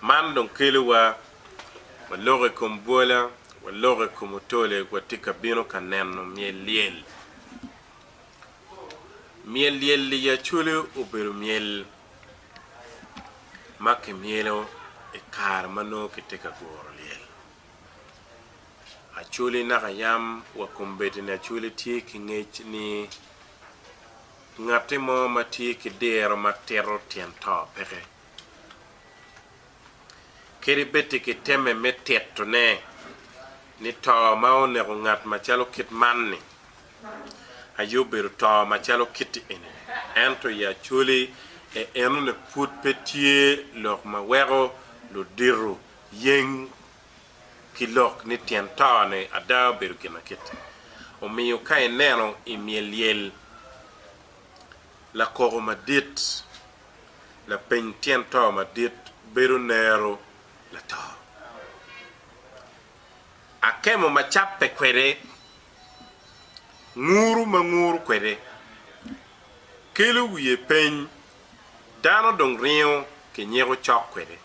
Man dong kelowa wa loko i kom bwola, wa loko i kom otole, wa tye ka bino ka neno myel lyel. Myel lyel i Acholi obedo myel ma kimyelo i kare ma nongo kitye ka guro lyel. Acholi naka yam wa kombeddi-ni Acholi tye ki ngec ni Ngatti mo ma tye ki diro ma tito tyen to peke, kadi bed ti ki temme me tito ne ni to ma oneko ngat ma calo kit man ni, aye obedo to ma calo kitti eni ni. Ento i acoli e eno ni pud pe tye lok ma weko luditu yeng ki lok ni tyen tone ada obedo ginakit. Omiyo ka ineno i myelyel lakoko madit, lapeny tyen to madit bedo nero lato. Akemo ma cabbe kwede, nguru ma nguru kwede, kelo wiye peny, dano dong ringo kinyeko cok kwede.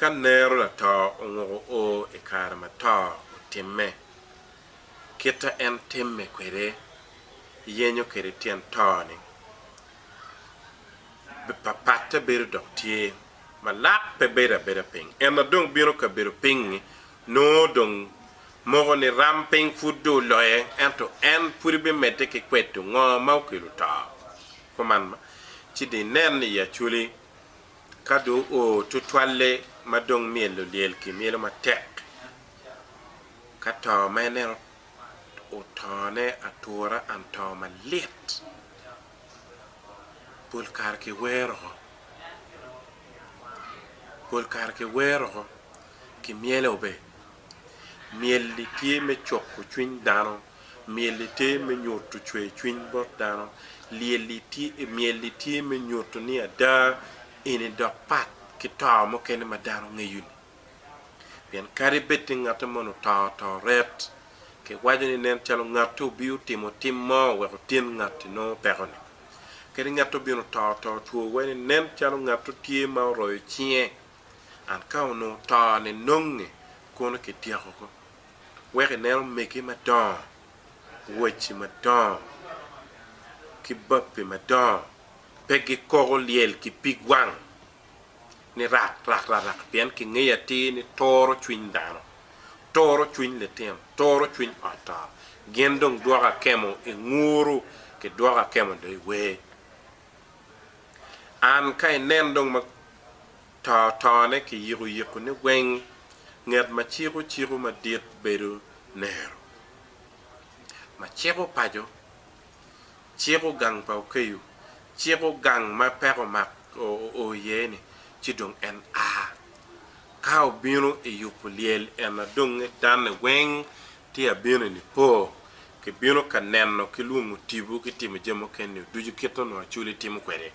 Ka nero lato onguko o i kare ma to otimme, kit ma en timme kwede yenyo kwede tyen to-ni papatte bedo dok tye ma lak pe bedo abeda piny. En a dong bino kabedo piny-ngi nongo dong moko ni ram piny pud dong oloye ento en pudi bimedde ki kweto ngo ma okelo to. Kuman ci dong inen i Acwali ka dong oo tutwalle ma dong myelo lyel ki myelo matek, ka to ma en en otone atura and to malit, pol kare ki wero oo, pol kare ki wero oo ki myelo be, myel-li tye me coko cwiny dano. Myel-li tye me nyutu cwer cwiny bot dano. Myel-li tye me nyutu ni ada eni dok pat ki to mukene ma dano ngeyo-ni. Pien kadi bed ni ngatte moni oto to ret, kiwaco ni nen calo ngatte obio timo tim mo wek otyen ngatti nongo peko-ni. Kadi ngatte obino to to two wai ni nen calo ngatte tye ma oroyo cinge. An ka onongo to-ni nonge kono kityeko ko. wek inen omege madongo, owaci madongo, ki bape madongo pe gikoko lyel ki pig wang ni rak rak rak rak pien kingeyo atir ni toro cwiny dano, toro cwiny litino, toro cwiny ot to gin dong dwoko akemo inguru ki dwoko akemo do iwer. An ka inen dong ma. to tone ki yiko yiko ne weng nget ma ciko ciko madit bedo nero ma ciko paco ciko gang pa okeyo ciko gang ma peko omak oo iye ni ci dong en a ka obino i yubu lyel en a dong nget danne weng tye a bino i nipo ki bino ka neno ki lwongo tibu ki timo jami mukene ni ducu kit onongo acoli timo kwede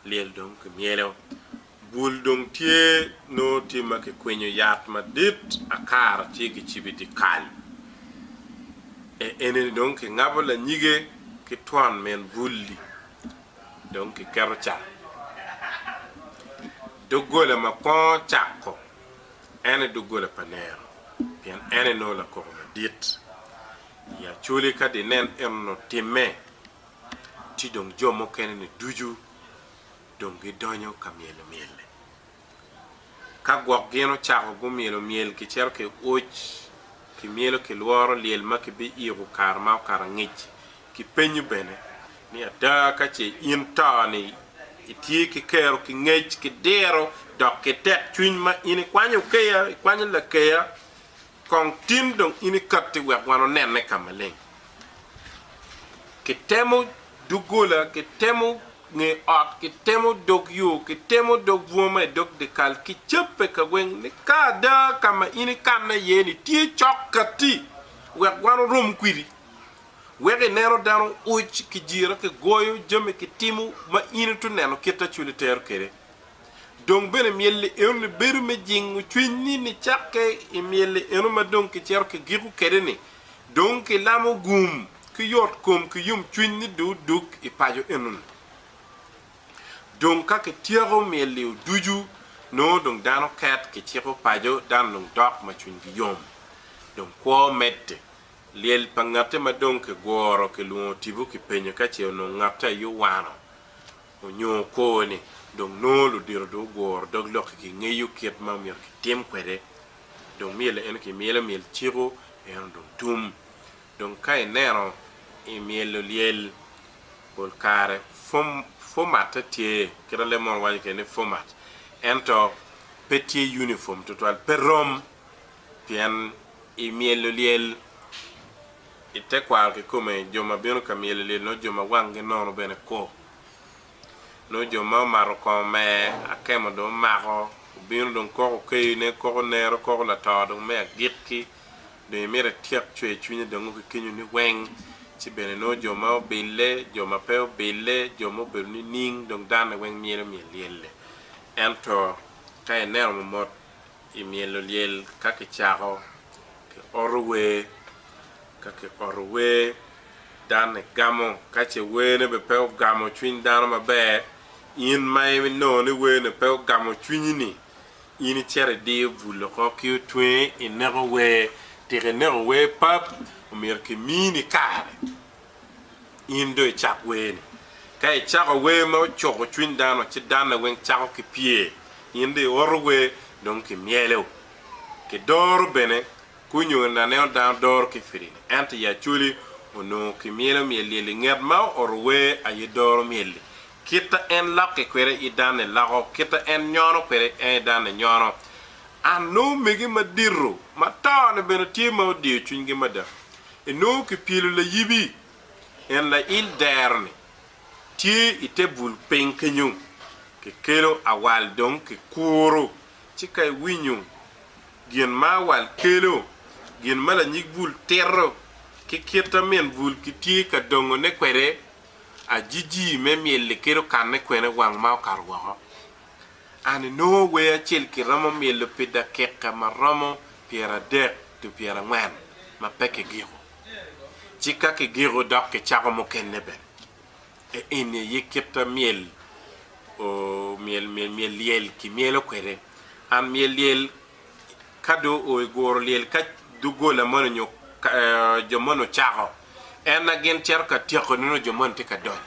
Lyel dong kimyelo. Bul dong tye nongo tye ma kikwinyo yat madit akara tye kicibo i dyekal. E eni-ni dong kingabo lanyige ki twon min bul-li dong kiketo ca. Doggola ma kwongo cako en aye doggola pa nero pien en aye nongo lakoko madit. I acoli ka dinen enonu otimme, ci dong jo mukene-ni ducu dong gidonyo ka myelo myel-li. Ka gwok gin ocako gumyelo myel kicito ki uc, kimyelo ki lworo lyel ma kibiiko kare ma okato angec. Kipenyo bene ni, Ada ka ce in to-ni itye ki kero ki ngec ki diro dok ki tekcwiny ma in ikwanyo keya, ikwanyo lakeya Kong tin dong in ikatti wek wan onenne ka maleng. Kitemo doggola, kitemo nge ot, kitemo dog yo, kitemo dog bunga ma i dog dyekal, kicabbe ka weng ni ka ada ka ma in ikanne iye ni tye cok katti wek wan orom kwidi. Wek ineno dano oc, kijira, kigoyo jami, kitimo ma in ituneno kit acwali tero kwede. Dong bene myel-li eno ni bedo me jingo cwinyni nicakke i myel-li eno ma dong kicito ki giko kede-ni, dong ki lamo gum ki yot kom ki yom cwiny ni dong odug i paco eno-ni. Dong ka kityeko myel-li oducu, nongo dong dano ket ki ciko paco dano dong dok ma cwinygi yom. Dong kwo medde. Lyel pa ngatte ma dong kiguro kilwongo tipo kipenyo ka ce onongo ngatte aye owano Onyo kor ni, dong nongo ludito dong guguro dog lokgi ki ngeyo kit ma myero kitim kwede. Dong myel eno ki myel amyel ciko eno dong tum. Dong ka ineno i myelo lyel, pol kare fom, format te tye, kit a leb mono waco kede ni format, ento pe tye uniform tutwal, pe rom, pien i myelo lyel. i te kwaro kikome jo ma bino ka myel ilyel nongo jo ma wanggi nono bene kwo nongo jo ma omato kongo me akemo dong omako obino dong koko okeyo ne koko nero koko lato dong me agik ki dong imito ityek cwer cwinye dongo ki kenyo ni weng ci bene nongo jo ma obille jo ma pe obille jo ma obedo ni ning dong dane weng myelo myel lyelle ento ka ineno mo mot I myelo lyel ka kicako, ki oto wer. Ka ki oto wer, dan ni gamo. Ka ce wer ne be pe ogamo cwiny dano maber, in ma i nongo ni wer ne pe ogamo cwinyi ni, in i cito i diyo bul oko ki otwenge i neko wer. Tika i neko wer pap? Omyero ki mini kare. in dong icak werni. Ka icako wer ma ocuko cwiny dano, ci danne weng cako ki pye, in dong ioto wer dong ki myelo, ki doro bene, ki onyo in aneno dano doro ki firini, ento i Acholi onongo ki myelo myel lyel-li. Ngat ma ooro wer aye doro myel-li. Kita en lokke kwede i danne loko, kita en nyono kwede en i danne nyono. An nongo omege madito ma tone bene tye ma odiyo cwinygi mada. Enongo kipyelo layibi, en lail dero-ni tye i te bul piny kenyo. Kikelo awal dong kikuro, ci ka iwinyo gin ma awal kelo, gin ma lanyig bul tito, ki kit ma min bul kitye ka dongone kwede, ajiji me myel-li kit okanne kwene wang ma okato woko. An inongo wer acel ki romo myelo pi dakika ma romo pyeradek to pyerangwen ma pe kigiko, ci ka kigiko dok kicako mukene bene. E eni aye kita myel myel lyel ki myelo kwede. An myel lyel ka do o i guro lyel ka dugola moni nyo jo moni ocako en na gin cito ka tyeko nongo jo moni tye ka donyo.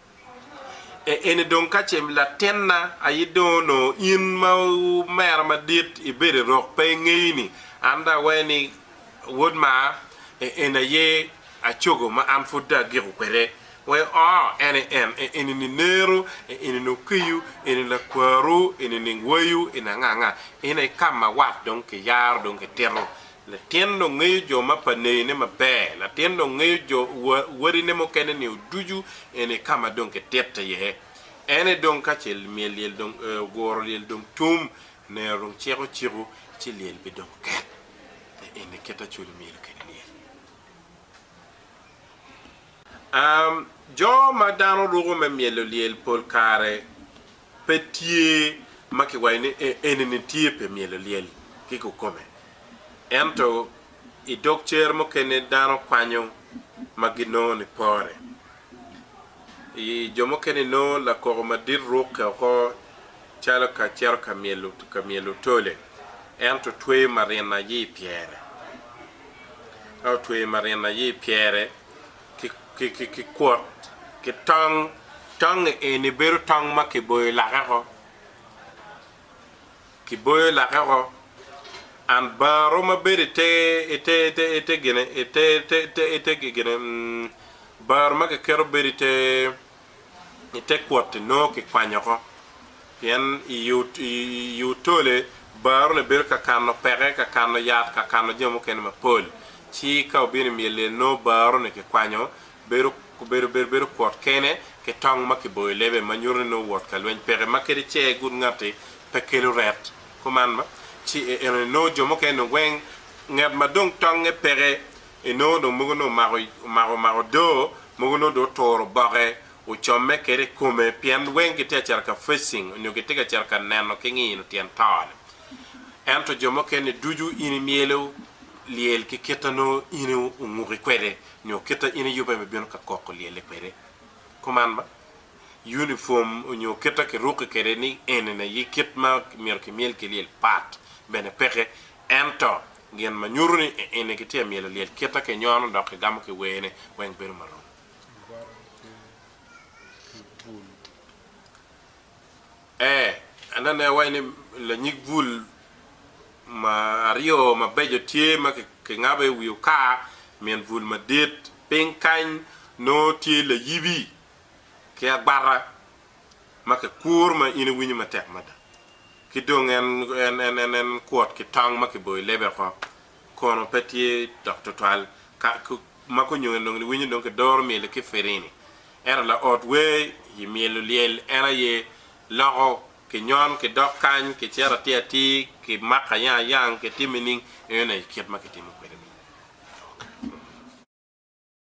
E eni dong ka ce latinna aye dong onongo in ma omera madit ibedo i rok pe ingeyi ni an dong awaye ni wod mar, e eni aye acogo ma an pud dong agiko kwede. Wee oo, en aye en, e eni ni neru, e eni ni okiyu, eni lakwaru, eni ni wayu, eni anga anga. Eni aye ka ma wat dong kiyaro dong kitito Latin dong ngeyo jo ma pa neyone maber. Latin dong ngeyo jo wa, wadine mukene nio ducu en i ka ma dong kitite iye. En aye dong ka ce myel lyel dong ee, oguro lyel dong tum, nero dong ciko ciku, ci lyel bidong ket. Pe en aye kit acwalo myelo kede lyel. Am, Jo ma dano ruko me myelo lyel pol kare. pe tye ma kiwaco ni enini tye pi myelo lyel ki kukome. Ento i dog cer mukene dano kwanyo ma ginongo ni pore. I jo mukene inongo lakoko madit rukke oko calo ka cito ka myelo ka myelo tole ento tweyo marina aye i pyere. Ka otweyo marina aye i pyere, ki kwot ki tong, tong-ngi eni bedo tong ma kiboyo lake oko, kiboyo lake oko, and baro ma bedo ite, ite, ite, ite gine, ite, ite, ite, ite gine, baro ma kiketo bedo ite. i te kwot-ti nongo kikwanyo oko, pien i otole bar onongo ebedo ka kano peke, ka kano yat, ka kano jami mukene mapol. Ci ka obino i myel lyel nongo bar onongo kikwanyo, bedo kwot kene ki tong ma kiboyo lebe ma nyuto ni nongo wot ka lweny peke, ma kadi ce egud ngatti pe kelo ret kuman. Ci enoni nongo jo mukene-ni weng ngat ma dong tongnge peke I nongo dong mogo nongo omako omako omako odoo mogo nongo dong oturo oboke ocomme kede i kome pien weng gitye ka cito ka facing onyo gitye ka cito ka neno ki ngino tyen tone ento jo mukene ducu in imyelo lyel ki kita nongo in onguki kwede nyo kita in iyube me bino ka koko lyelle kwede kuman ba uniform onyo kita kiruki kede ni enini aye kit ma myero kimyel ki lyel pat bene peke ento gin ma nyuto ni eni kitye ka myelo lyel kite ki nyono dok kigamo ki wene weng bedo ma rom. Ee, anene iwaci ni lanyig bul ma aryo mabeco tye ma kingabo i wi okar min bul madit. Piny kany nongo tye layibi ki agwata ma kikuro ma in iwinyo matek mada, ki dong en kwot ki tong ma kiboyo i lebe oko, kono pe tye dok twatwal ma kunyo en dong niwinyo dong kidoro myel-li ki firini. Ento laot wer i myel olyel en aye loko kinyon ki dok kany ki cito atir atir ki mako ayang ayang ki timo nining? Eno aye kit ma kitimo kwede myel.